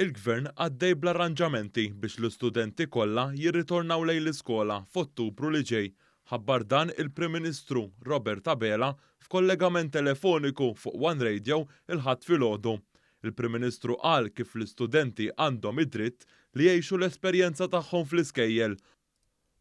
Il-Gvern għaddej bl-arranġamenti biex l-istudenti kollha jirritornaw lejn l-iskola f'Ottubru li ġej. Ħabbar dan il-Prim Ministru Robert Abela f'kollegament telefoniku fuq one Radio il-Ħadd filgħodu. Il-Prim Ministru qal kif l-istudenti għandhom id-dritt li jgħixu l-esperjenza tagħhom fl-iskejjel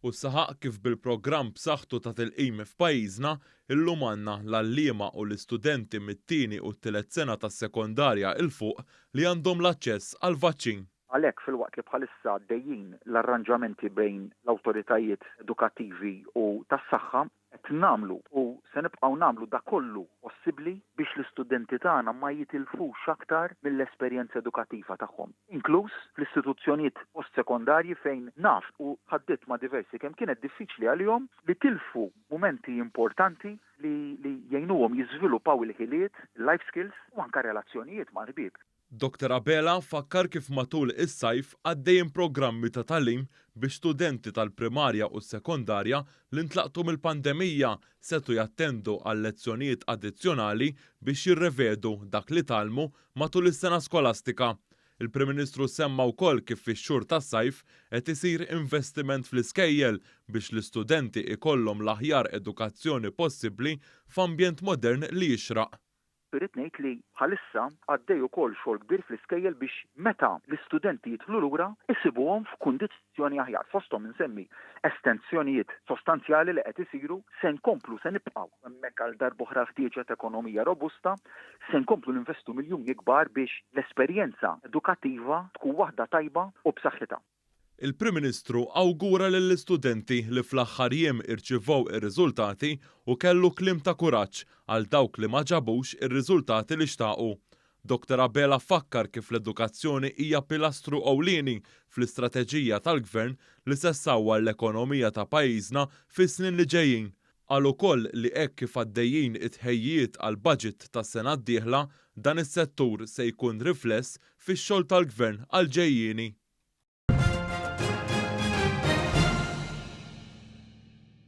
u saħaq kif bil-programm b'saħħtu ta' tilqim f'pajjiżna, illum għandna l-għalliema u l-istudenti mit-tieni u t-tielet sena tas-sekondarja 'l fuq li għandhom l-aċċess għall-vaċċin. Għalhekk, filwaqt li bħalissa għaddejjin l-arranġamenti bejn l-awtoritajiet edukattivi u tas-saħħa, Qed nagħmlu u se nibqgħu nagħmlu dak kollu possibbli biex l-istudenti tagħna ma jitilfux aktar mill-esperjenza edukattiva tagħhom, inkluż fl-istituzzjonijiet post-sekondarji fejn naf u tħaddidt ma' diversi kemm kienet diffiċli għalihom li tilfu mumenti importanti li jgħinuhom jiżviluppaw il-ħiliet, il-life skills u anke relazzjonijiet mal-ħbieb. Doctor Abela fakkar kif matul is-sajf għaddejjin programmi ta' tagħlim biex studenti tal-primarja u s-sekondarja li ntlaqtu mill-pandemija setgħu jattendu għal lezzjonijiet addizzjonali biex jirrevedu dak li tgħallmu matul is-sena skolastika. Il-Prim Ministru semma wkoll kif fix-xhur tas-sajf qed isir investiment fl-iskejjel biex l-istudenti jkollhom l-aħjar edukazzjoni possibbli f'ambjent modern li jixraq. Irrid ngħid li bħalissa għaddej ukoll xogħol kbir fl-iskejjel biex meta l-istudenti jidħlu lura jsibuhom f'kundizzjoni aħjar. Fosthom insemmi estensjonijiet sostanzjali li qed isiru, se nkomplu, se nibqgħu hemmhekk għal darb'oħra l-ħtieġa ta' ekonomija robusta, se nkomplu ninvestu miljuni kbar biex l-esperjenza edukattiva tkun waħda tajba u b'saħħitha. Il-Prim Ministru awgura lill-istudenti li fl-aħħar jiem irċivew ir-riżultati u kellu kliem ta' kuraġġ għal dawk li ma ġabux ir-riżultati li xtaqu. Doctor Abela fakkar kif l-edukazzjoni hija pilastru ewlieni fl-istrateġija tal-Gvern li se ssawwar l-ekonomija ta' pajjiżna fis-snin li ġejjin Qal ukoll li hekk kif għaddejjin it-tħejjijiet għall-budget tas-sena d-dieħla, dan is-settur se jkun rifless fix-xogħol tal-Gvern għall-ġejjieni.